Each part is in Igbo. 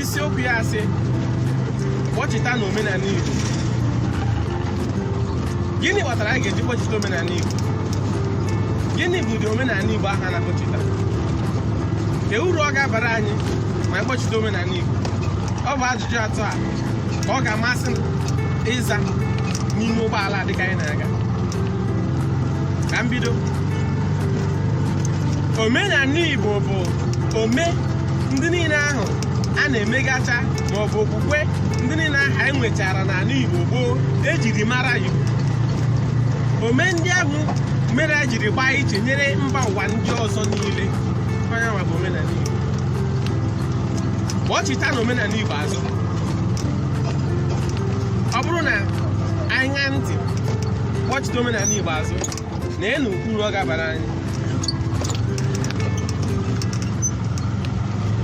isiokwu ya sị kpọchitanụ omenala Igbo gịnị kpatara anyị ga-eji kpọchita omenala Igbo gịnị bụ ụdị omenala Igbo ahụ a na-akpọchita kee uru ọ ga-abara anyị ma anyị kpọchita omenala Igbo ọ bụ ajụjụ atọ a ka ọ ga-amasị m ịza n'ime ụgbọala dịka anyị na-aga ka m bido omenala igbo bụ ome ndị niile ahụ a na-emegacha ma ọ bụ okwukwe ndị niile ahụ anyị nwechara n'ala igbo gboo ejiri mara igbo ome ndị ahụ mere anyị jiri gbaa iche nyere mba ụwa ndị ọzọ niile ọ ya nwa bụ omenala igbo kpọchitanụ omenala igbo azụ ọ bụrụ na anyị ṅaa ntị kpọchita omenala igbo azụ neenu uru ọ ga-abara anyị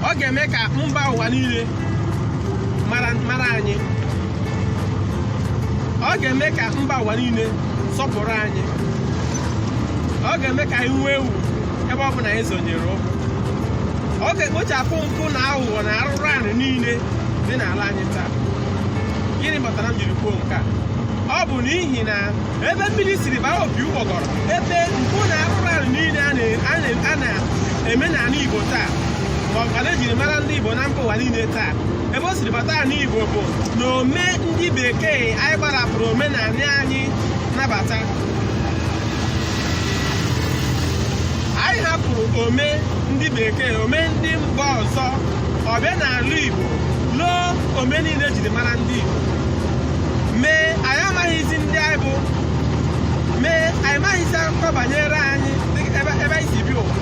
ọ ga-eme ka mba ụwa niile mara anyị ọ ga-eme ka mba ụwa niile sọpụrụ anyị ọ ga-eme ka anyị nwee ugwu ebe ọ bụla anyị zonyere ụkwụ ọ ga-ekpochapụ mpụ na aghụghọ na arụrụ anị niile dị n'ala anyị taa gịnị kpatara m jiri kwuo nke a ọ bụ n'ihi na ebe mmiri siri baa opi ụgbọgọrọ ebe mpụ na arụrụ anị niile a na- a na- a na-eme n'ala igbo taa ma ọkwanụ ejiri mara ndị igbo na mba ụwa niile taa ebe o siri bata ala igbo bụ na ome ndị bekee anyị gbarapụrụ omenala anyị nabata anyị makụrụ ome ndị bekee ome ndị mba ọzọ ọ bịa n'ala igbo loo ome niile ejiri mara ndị igbo mee anyị amaghịzi ndị anyị bụ mee anyị maghịzi akụkọ banyere anyị ebe anyị si bịa ụwa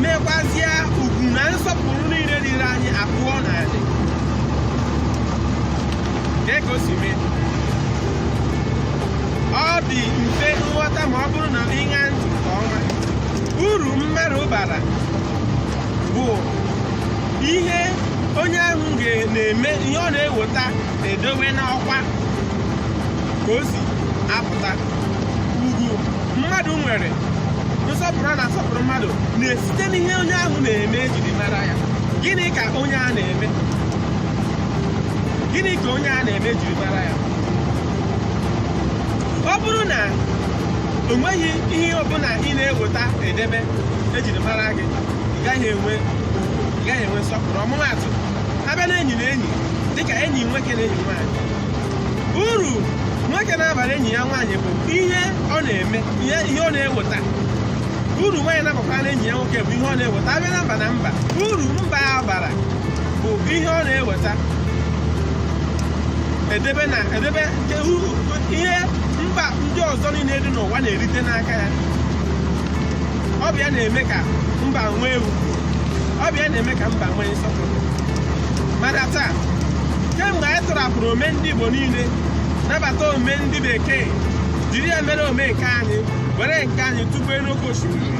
mekwazịa ugwu na nsọpụrụ niile dịrị anyị awụọ n'anị kee ka o si mee ọ dị mfe nghọta ma ọ bụrụ na ị ṅaa ntị nke ọma uru mmadụ bara bụ ihe onye ahụ na-eme ihe ọ na-eweta na-edebe n'ọkwa ka o si apụta ugwu mmadụ nwere nsọpụrụ a na-asọpụrụ mmadụ na-esite n'ihe onye ahụ na-eme ejiri mara ya gịnị ka onye a na-eme gịnị ka onye a na-eme ejiri mara ya ọ bụrụ na o nweghị ihe ọbụla ị na-eweta na-edebe ejiri mara gị gaghị enwe gaghị enwe nsọpụrụ ọmụmaatụ abịa na enyi na enyi dịka enyi nwoke na enyi nwaanyị uru nwoke na-abara enyi ya nwaanyị bụ ihe ọ na-eme ihe ihe ọ na-eweta uru nwaanyị na-abakwara na enyi ya nwoke bụ ihe ọ na-eweta abịa na mba na mba uru mba a bara bụ ihe ọ na-eweta edebe na edebe nke uru ihe mba ndị ọzọ niile dị n'ụwa na-erite n'aka ya ọ bụ ya na-eme ka mba nwee ugwu ọ bụ ya na-eme ka mba nwee nsọpụrụ mana taa kemgbe anyị tụrapụrụ ome ndị Igbo niile nabata ome ndị bekee jiri ya mere ome nke anyị were nke anyị tụpụ n'oke osimiri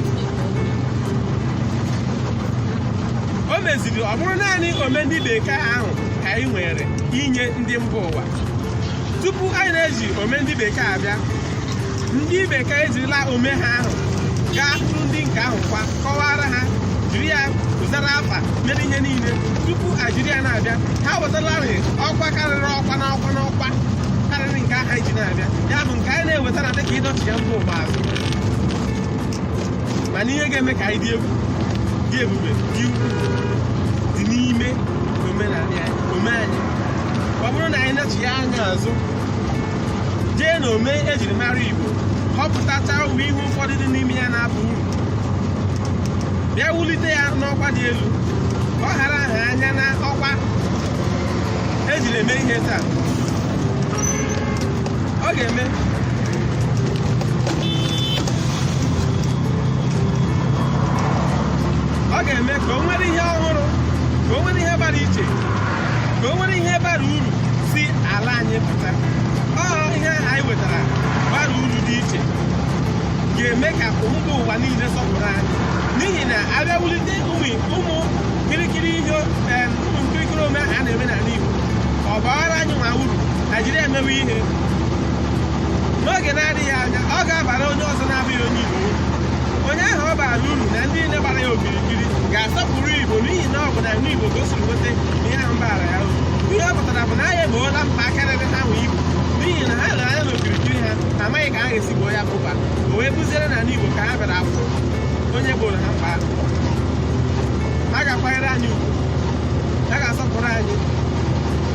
o meziri ọ bụrụ naanị ome ndị bekee ahụ ka anyị nwere inye ndị mba ụwa tupu anyị na-eji ome ndị bekee abịa ndị bekee ejirila ome ha ahụ gaa hụrụ ndị nke ahụ kwa kọwara ha jiri ya zara afa mere ihe niile tupu anyị jiri ya na-abịa ha wetalarị ọkwa karịrị ọkwa n'ọkwa n'ọkwa karịrị nke ahụ anyị ji na-abịa ya bụ nke anyị na-eweta na-adị ka ịdọchigha mba ụwa azụ mana ihe ga-eme ka anyị dị egwu dị ebube dị ukwu dị n'ime omenala anyị ome anyị ọ bụrụ na anyị nechigha anya azụ jee na ome ejiri mara Igbo họpụtacha ụmụ ihe ụfọdụ dị n'ime ya na-aba uru bịa wulite ya n'ọkwa dị elu ka ọ hara aha anya na ọkwa ejiri eme ihe taa ọ ga-eme ọ ga-eme ka o nwere ihe ọhụrụ ka o nwere ihe gbara iche na o nwere ihe bara uru si ala anyị pụta ọ ihe ahụ anyị wetara bara uru dị iche ga-eme ka mba ụwa niile sọpụrụ anyị n'ihi na abịa wulite ụmụ ụmụ kirikiri ihe em, ụmụ nkirikiri ome ahụ a na-eme n'ala Igbo ọ baara anyị nwa uru na anyị jiri ya emewe ihe n'oge na-adịghị anya ọ ga-abara onye ọzọ na-abụghị onye Igbo uru. onye ahụ ọ bara uru na ndị niile gbara ya okiri ikiri ga-asọpụrụ Igbo n'ihi na ọ bụ na nwa Igbo ka o siri nweta ihe ahụ baara ya uru ihe ọ pụtara bụ na anyị egboola mkpa a ka na-egbotaghị egbo n'ihi na ha lere anya n'okirikiri ha amaghị ka ha ga-esi gboo ya bụba o wee bụziere na Igbo ka ha bịara afụ onye gboro ha mkpa ahụ ha ga-akwanyere anyị ugwu ha ga-asọpụrụ anyị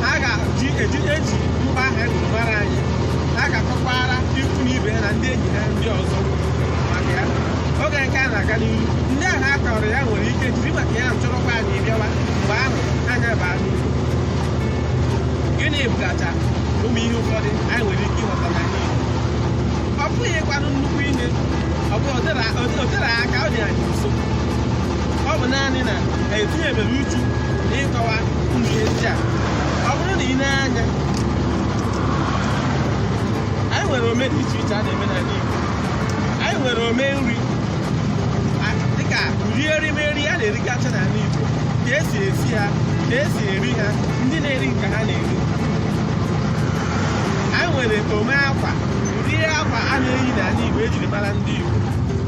ha ga-eji eji eji mkpa ahụ mara anyị ha ga-akọkwara ikwu na ibe ha na ndị enyi ha ndị ọzọ maka ya oge nke a na-aga n'ihu ndị ahụ a kọrọ ya nwere ike jiri maka ya chọrọkwa anyị bịawa mgbe ahụ anyị abaa n'ihu gịnị bụgacha ụmụ ihe ụfọdụ anyị nwere ike ịghọta na ya ọ bụghịkwanụ nnukwu ihe ọ bụ o tere aka ọ dị anyị nso ọ bụ naanị na etinyebere uchu na ịkọwa ụmụ ihe ndị a ọ bụrụ na i nee anya anyị nwere ome dị iche iche a na-eme n'ala Igbo anyị nwere ome nri dịka ụdị erimeri a na-erigacha n'ala Igbo ka esi esi ha ka esi eri ha ndị na-eri nke ha na-eri anyị nwere ome akwa ụdị akwa a na-eyi n'ala Igbo ejiri mara ndị Igbo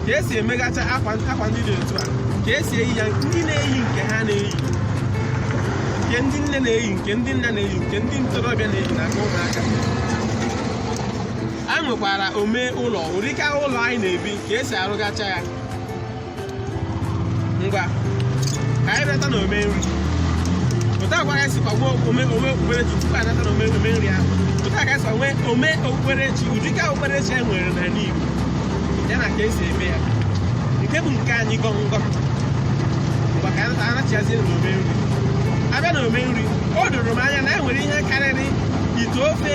ka esi emegacha akwa ndị dị otu a ka esi eyi ya ndị na-eyi nke ha na-eyi nke ndị nne na-eyi nke ndị nna na-eyi nke ndị ntorobịa na-eyi na nke ụmụaka a nwekwara ome ụlọ ụdịka ụlọ anyị na-ebi ka esi arụgacha ya ngwa ka anyị bịata na ome nri otu a ka esikwa nwee ome okpukperechi tupu anyị bịata na ome nri ahụ otu a ka esikwa nwee ome okpukperechi ụdịka okpukperechi e nwere n'ala Igbo ya na ka esi eme ya nke bụ nke anyị gọm gọm ngwa ka anyị nachiazie na ome nri abịa na ome nri o doro m anya na e nwere ihe karịrị ite ofe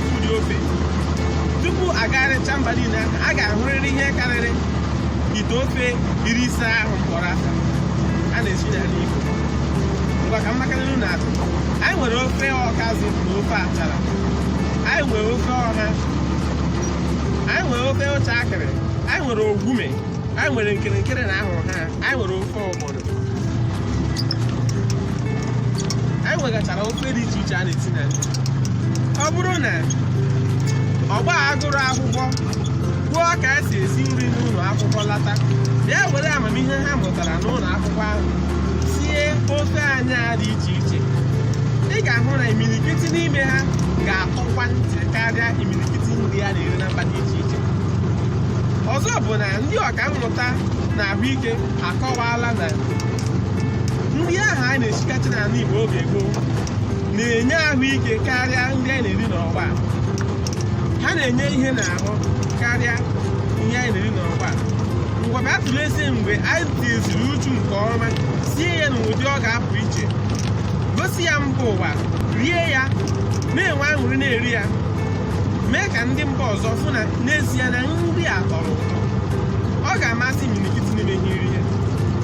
ụdị ofe tupu agagharịcha mba niile ahụ a ga-ahụrịrị ihe karịrị ite ofe iri ise ahụ m kpọrọ afa a na-esi n'ala Igbo ngwa ka m makarịrị na atụ anyị nwere ofe ọkazị na ofe achara anyị nwere ofe ọha anyị nwere ofe ụchakịrị anyị nwere ogume anyị nwere nkerenkere na ahịhara anyị nwere ofe anyị nwegachara ofe dị iche iche a na-esi n'ala Igbo ọ bụrụ na ọgbọ a gụrụ akwụkwọ gụọ ka esi esi nri n'ụlọ akwụkwọ lata bịa were amamihe ha mụtara n'ụlọ akwụkwọ ahụ sie ofe anyị a dị iche iche ị ga-ahụ na imirikiti n'ime ha ga-atọkwa ntị karịa imirikiti nri a na-eri na mba dị iche iche ọzọ bụ na ndị ọka mmụta na ahụike akọwaala na nri ahụ a na-esigacha n'ala Igbo oge gboo na-enye ahụike karịa ndị anyị na-eri n'ọgbọ a. ha na-enye ihe n'ahụ karịa ihe anyị na-eri n'ọgbọ a. ngwa bịa tụlezie mgbe anyị tinyeziri uchu nke ọma sie ya n'ụdị ọ ga-apụ iche gosi ya mba ụwa rie ya na-enwe aṅụrị na-eri ya mee ka ndị mba ọzọ fụ na n'ezie na nri a tọrọ ụtọ ọ ga-amasị imirikiti n'ime ha iri ya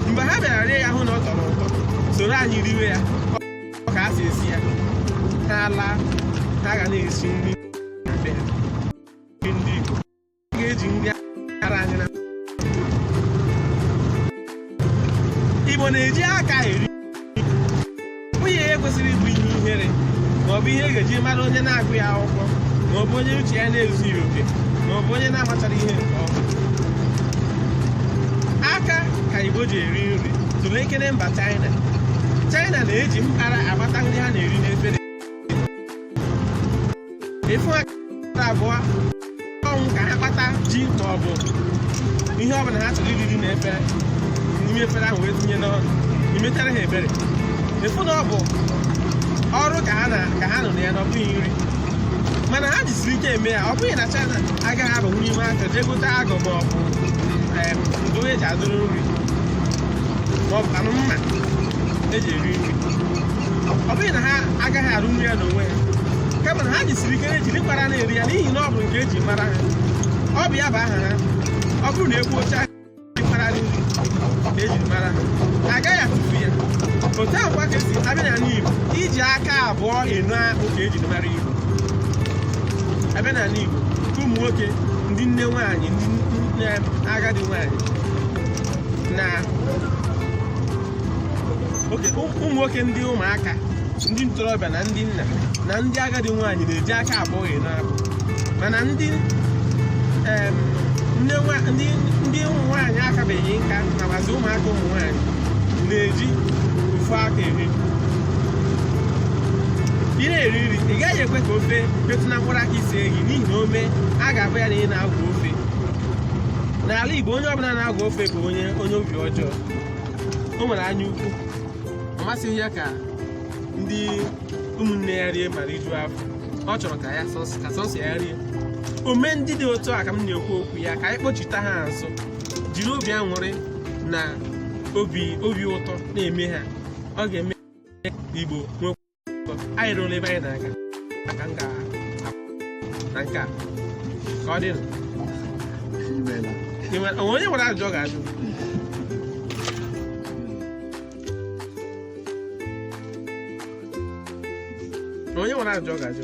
mgbe ha bịara rie ya hụ na ọ tọrọ ụtọ soro anyị riwe ya ọ ka a si esi ya ha laa ha ga na-esi nri ga-eji mara anyị na igbo na-eji aka eri ọ bụghị ihe kwesịrị ịbụ ihe ihere ma ọ bụ ihe ga-eji mara onye na-agụghị akwụkwọ ma ọ bụ onye uche ya na-ezughị oke ma ọ bụ onye na-amachaghị ihe nke ọma aka ka igbo ji eri nri tụlekene mba China China na-eji mkpara akpata nri ha na-eri n'efere ị fụ ha abụ ọnwụ ka ha kpata ji ma ọ bụ ihe ọbụla ha chọrọ iri eri na efere n'ime efere ahụ wee tinye n'ọnụ i metara ha ebere ị fụ na ọ bụ ọrụ ka ha na- ka ha nọ na ya na ọ bụghị nri mana ha jisiri ike eme ya ọ bụghị na China agaghị abanwu n'ime market jee gote eku ma ọ bụ em, ndụdụ eji adụrụ nri ma ọ bụkwanụ mma eji eri nri ọ bụghị na ha agaghị arụnwu ya n'onwe ha kama na ha jisiri ike na-ejiri mkpara na-eri ya n'ihi na ọ bụ nke eji mara ha ọ bụ ya bụ aha ha ọ bụrụ na ekwuo China mkpara nri ka ejiri mara ha agaghị atụfu ya otu ahụ kwa ka esi abịa na ala Igbo iji aka abụọ eno akpụ ka ejiri mara Igbo abịa na ala Igbo ka ụmụ nwoke ndị nne nwaanyị ndị nne agadi nwaanyị na ụmụ nwoke ndị ụmụaka ndị ntorobịa na ndị nna na ndị agadi nwaanyị na-eji aka abụọ eno akpụ mana ndị ndị ụmụ nwaanyị akabeghị nka nakwazi ụmụaka ụmụ nwaanyị na-eji ofu aka eri ị na-eri nri ị gaghị ekwe ka ofe metụ na mkpụrụ aka ise gị n'ihi na o mee a ga-abụ ya na ị na-agwọ ofe n'ala Igbo onye ọbụla na-agwọ ofe bụ onye onye obi ọjọọ o nwere anya ukwu ọ masịghị ya ka ndị ụmụnne ya rie ma rijuo afọ ọ chọrọ ka ya sọs- ka sọsọ ya rie ome ndị dị otu a ka m na-ekwu okwu ya ka anyị kpọchite ha azụ jiri obi aṅụrị na obi obi ụtọ na-eme ha ọ ga-eme ka igbo nwee anyị ruru ebe anyị na-aga maka m ga na nke a ka ọ dị onye nwere ajụjụ ọ ga-ajụ onye nwere ajụjụ ọ ga-ajụ